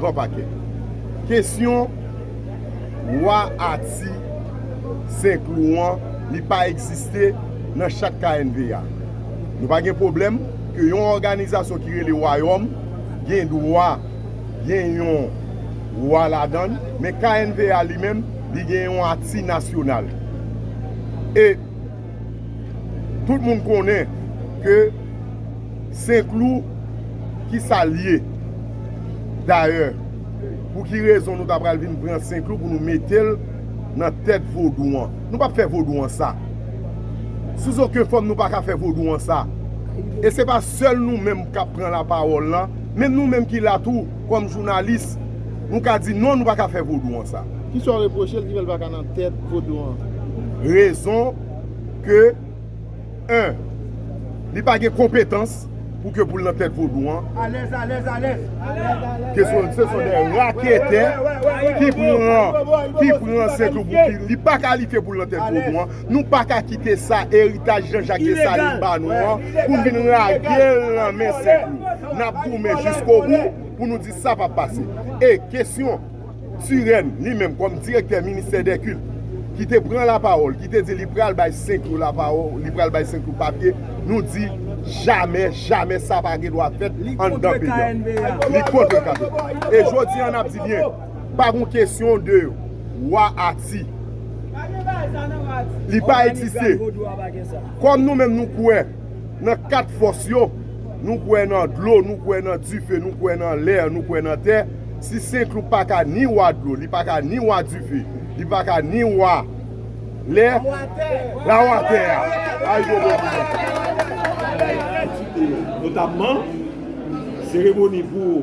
pran pakè. Kesyon Wa a Ti Senklou an li pa egziste nan chat knva. Nou pa gen pwoblèm ke yon òganizasyon ki rele Wayòm gen dwa gen yon Wa ladan l, men knva li menm li gen yon a Ti Nasyonal. E. Tout moun konnen ke Senklou ki sa l ye. Dayè, pou ki rezon nou ta pral vin pran Senklou pou nou mete l nan tèt Vodou an? Nou pap fè Vodou an sa. Sous oken fòm nou pa ka fè Vodou an sa. E se pa sèl nou menm k ap pran lapawòl la, menm nou menm ki la tou. kòm jounalis, nou ka di non nou pa ka fè vodou an sa. Kisa w repwoche l ki fè l pa ka nan tèt vodou an? Rezon ke 1. Li pa gen konpetans pou ke pou l nan tèt vodou an. Alèz, alèz, alèz. Ke se son de raketè ki pran, ki pran sètoubou ki li pa kalifye pou l nan tèt vodou an. Nou pa ka kite sa eritaj Jan Jak Desalin ba nou an pou n vin lage l nan men Sentlou. N ap goumen jiskobou pou nou di sa p ap pase. E kesyon Turenne li menm kòm direktè ministè dè kilt ki te pran lapawòl ki te di li pral bay Sentlou lapawo li pral bay Sentlou papye nou di jamè jamè sa pa gen dwa fèt anndan peyi an. Li kontre katolik. E jodi an n ap di byen. pa gon kesyon de wa ati. Li pa egziste. Kòm nou menm nou kwè nan kat fòs yo, nou kwè nan dlo, nou kwè nan dife, nou kwè nan lè, nou kwè nan tè, si Senklou pa ka ni wa dlo, li pa ka ni wa dife, li pa ka ni wa lè, la wa tè a. Ayibobo pou nou. Notapman, seremoni pou.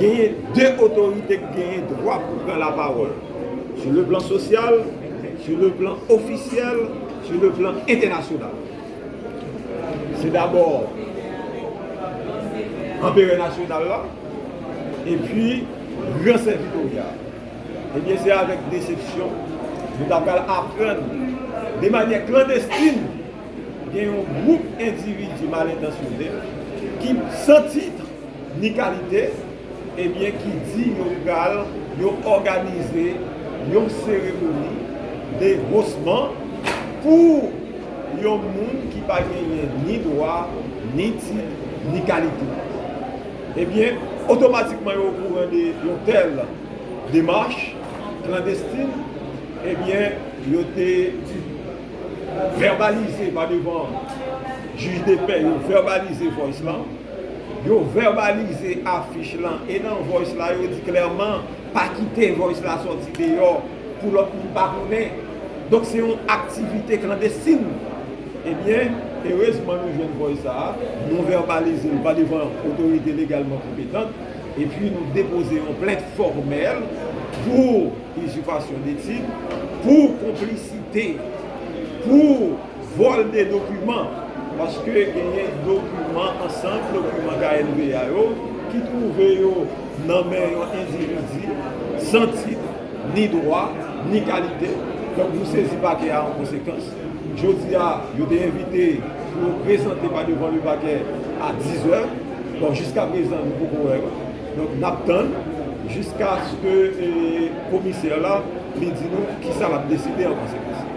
genyen 2 otorite k genyen dwa pou pran la pawòl sou le plan sosyal, sou le plan ofisyèl, sou le plan entènasyonal. Se dabò Anperè nasyonal la epi Gran Sèvitorya. Ebyen se avèk desepsyon nou ta pral aprann de manyè klandestin gen yon gwoup endividi malentansyone ki san titre, ni kalite, ebyen ki di yo pral yo òganize yon seremoni de hosman pou yon moun ki pa genyen ni dwa, ni tit, ni kalite. Ebyen, otomatikman yo okouran de yon tèl demach klandestin, ebyen yo te vèbalize pa devan jij de pè, yo vèbalize Voice lan. Yo vèbalize afich lan e nan voice la yo di klèman pa kite voice la sòti deyò pou lòt moun pa konnen. Donk se yon aktivite klandestin. Ebyen, erezman nou jwenn voice sa a, nou vèbalize l pa devan otorite legalman konpetant epi nou depoze yon plent fòmèl pou izipasyon detid, pou konplisite, pou. Vòl de dokiman, paske genyen dokiman ansanm dokiman knpa yo ki twouve yo nan men yon endividi san tit, ni dwa, ni kalite, donk nou sezi pakè a an konsekans. Jodi a, yo te envite pou yo prezante pa devan le pakè a 10 zè, bon jiska prezan nou poko wè yo, donk n ap tann jiskaske komisè la li di nou kisa l ap deside an konsekans.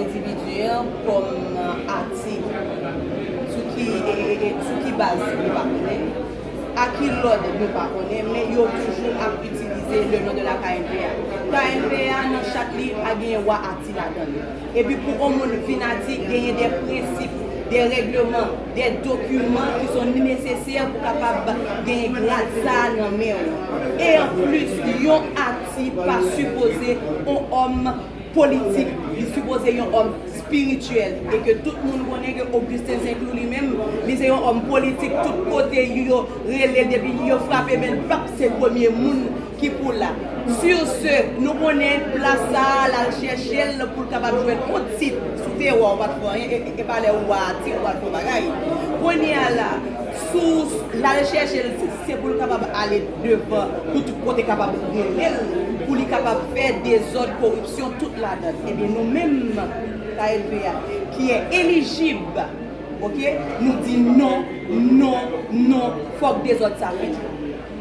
Individuel kòm nan atik? Sou ki sou ki baz nou pa konnen? A ki lòd nou pa konnen men yo toujou ap itilize le non de la knpa. Knpa nan chat li pa genyen wa ati ladann. Epi pou on moun vin ati genyen de prensip, de règleman, de dokiman ki son nesesè pou kapab genyen grad sa a nan men ou. E an plis yon ati pa sipoze on òm politik, li sipoze yon òm spirityèl e ke tout moun konnen ke Augustin St-Louis li menm, li se yon òm politik tout kote yo rele depi yo frape men l pap se premye moun ki pou la. Sur ce, nou konnen plas sa a l al chèche l pou l kapab jwenn yon tit, si w te wa ou pa t fè anyen e pa lè ou wa a tit ou al fè yon bagay. Kounye a la, Sous, L al chèche l si se pou l kapab ale devan pou tout kote kapab rele l, pou li kapab fè dezòd, koripsyon, tout ladan. Ebyen nou menm KLP a ki e elijib ok nou di non, non, non fòk dezòd sa fini.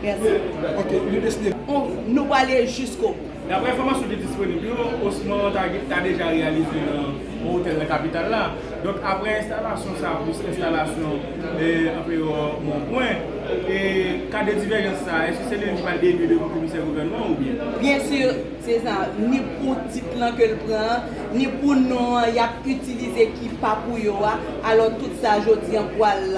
Mèsi. Ok nou deside. Nou prale jiskobou. Daprè enfòmasyon ki disponib yo, osman an ta deja reyalize nan yon otèl nan kapital la. Donk aprè enstalasyon sa plis enstalasyon Anperò Monpwen, ka de divèjans sa, èske se li menm ki pral elye devan komisè gouvènman an oubyen? Byen sur, se sa, ni pou tit lan ke l pran an, ni pou non an y ap itilize ki pa pou yo a, alò tout sa jodi an pral.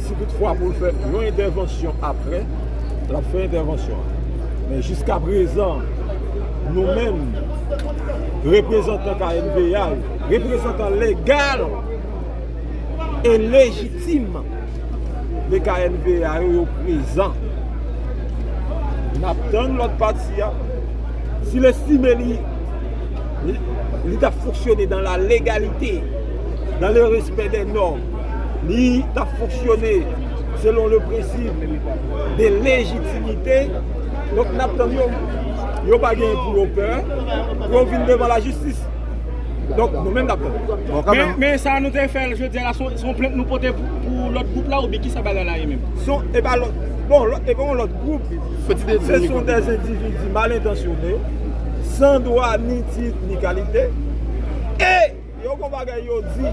Si tout fwa pou l fè yon entèvansyon aprè, l ap fè entèvansyon an. Men jiska prezan, nou menm, reprezantan KMPA yo, reprezantan legal e lejitim de KMPA yo, yo prezan. N ap tann lòt pati a. Si l estime li, li ta fonksyone dan la legalite, dan le respè dè nòm. li tap fonksyone selon le prensip de lejitimite, donk nap tann yo, yo pa gen pou yo pè pou yo vin devan la jistis, donk nou menm nap tann. Men sa nou te fè jodi a la son plent nou pote pou lòt gwoup la oubyen kisa bagay la ye menm? E pa lòt, bon e pa yon lòt gwoup, se son dè endividi mal entansyone, san dwa ni tit ni kalite, e Yo gon bagay yo di.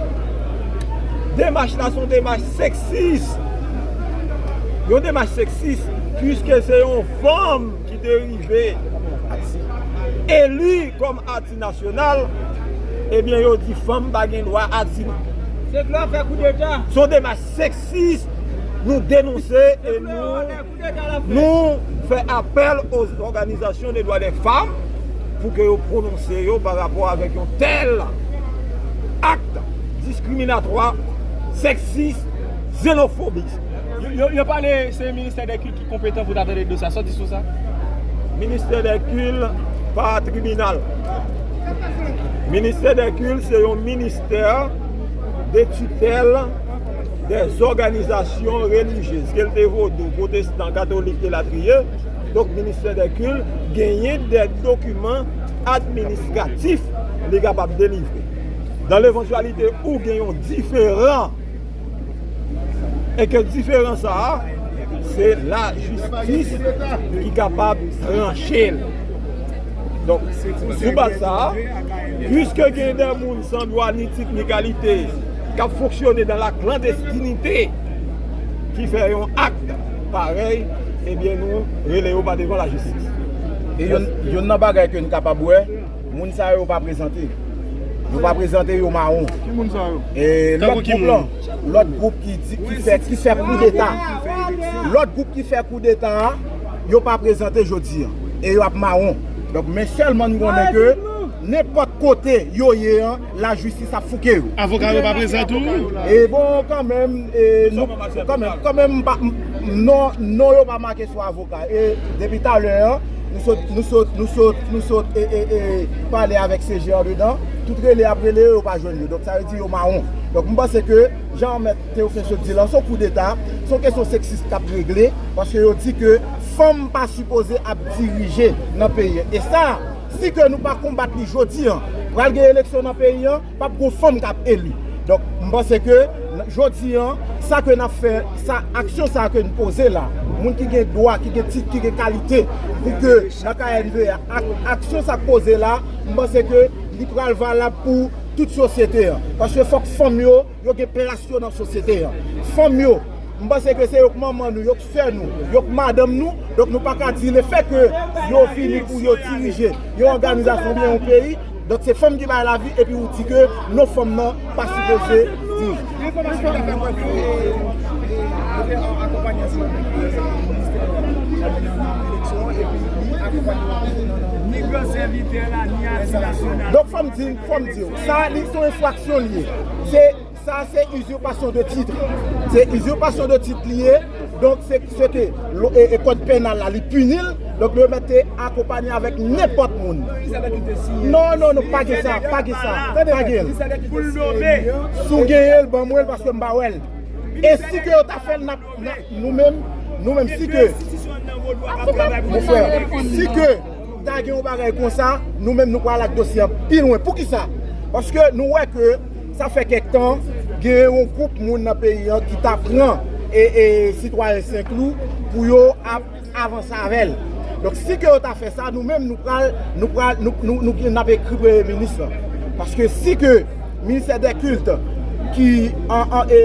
Demach la son demach seksis. Yon demach seksis pwiske se yon fanm ki te rive eli kòm ati nasyonal ebyen yo di fanm pa gen dwa ati nan. Se vle fè koudeta. Son demach seksis nou denonse e nou. Nou fè apèl o òganizasyon de dwa dè fanm pou ke yo pwononse yo pa rapò avèk yon tèl akt diskriminatwa, sèksis, zenofobis. Yo pale se ministè dè kilt ki konpetan pou ta tande dosye a, sa w di sou sa? Ministè dè kilt pa tribinal. Ministè dè kilt se yon ministè de titèl. de zòganizasyon relijyez, ke l te vodou, pwotestan, katolik elatriye, donk ministè dè kil genyen dè dokiman administratif li kapab delivre. Dan levantyalite ou gen yon diferan, e ke diferan sa a, se lajistis ki kapab tranche l. Donk, sou baz sa a, pwiske gen dè moun san dwa ni tit ni kalite, k ap fonksyone dan la klandestinite ki fè yon akt parèy ebyen nou rele yo pa devan lajistis. E yonn nan bagay ke n kapab wè, moun sa yo pa prezante. Yo pa prezante, yo mawon. Ki moun sa yo? E lòt gwoup lan, lòt gwoup ki di, ki fè, ki fè koudeta. Lòt gwoup ki fè koudeta a, yo pa prezante jodi an. E yo ap mawon. Donk men sèlman n konnen ke nenpòt kote yo ye an, La justice ap fouke yo. Avoka yo pa prezan tou? E bon kanmenm e nou kanmenm kanmenm m pa non non yo pa make sou avoka e depi talè an nou sot nou sot nou sot nou sot e e e pale avèk CG andedan tout rele yap rele yo yo pa jwenn yo donk sa vle di yo mawon donk m panse ke jan mèt Théophile sot di lan son kou deta s on kesyon seksis kap regle paske yo di ke fanm pa sipoze ap dirije nan peyi e sa Si ke nou pa konbat li jodi an, pral gen eleksyon nan peyi an, pap gon fanm kap eli. Donk, m panse ke jodi an, sa ke nap fè, sa aksyon sa ke n poze la, moun ki gen dwa, ki gen tit, ki gen kalite pou ke nan knbe a, ak aksyon sa k poze la, m panse ke li pral valab pou tout sosyete an. Paske fòk fanm yo. Yo gen plas yo nan sosyete an. Fanm yo, m panse ke se yo k manman nou, yo k sè nou, yo k madanm nou, donk nou pa ka di le fè ke yo vini pou yo dirije yon òganizasyon oubyen yon peyi, donk se fanm ki bay lavi epi ou di ke non fanm nan pa sipoze dirije. Gen enfòmasyon ki fè kwè ke yo te akonpanye ansanm avèk Minis Ministè a nan eleksyon an epi li akonpanye yo nan. Ni gran sèvitè la, ni ati nasyonal. Donk fò m di, fò m di w. Sa li son enfraksyon li ye. Se sa se uzurpation de titre. Se uzurpation de titre li ye. Donk se se ke e kod penal la li pini l. Donk yo mèt te akonpanye avèk nenpòt moun. Ki sa nèg ki te siyen. Non non non pa gen sa, pa gen sa. Pa gen l. Ki sa nèg ki te siyen li an. Si w genyen l ban mwen l paske m pa wè l. E si ke yo ta fè l nap nou menm nou menm si ke. Mon frè si ke. Ta gen yon bagay konsa, nou menm nou pral ak dosye a pi lwen. Poukisa? Paske nou wè ke sa fè kèk tan gen yon gwoup moun nan peyi an ki ta pran sitwayen Senklou pou yo ap avanse avè l. Donk si ke yo ta fè sa, nou menm nou pral, nou pral, nou gen, n ap ekri Premye Minis lan. Paske si ke Ministè dè Kilt ki an, an, e.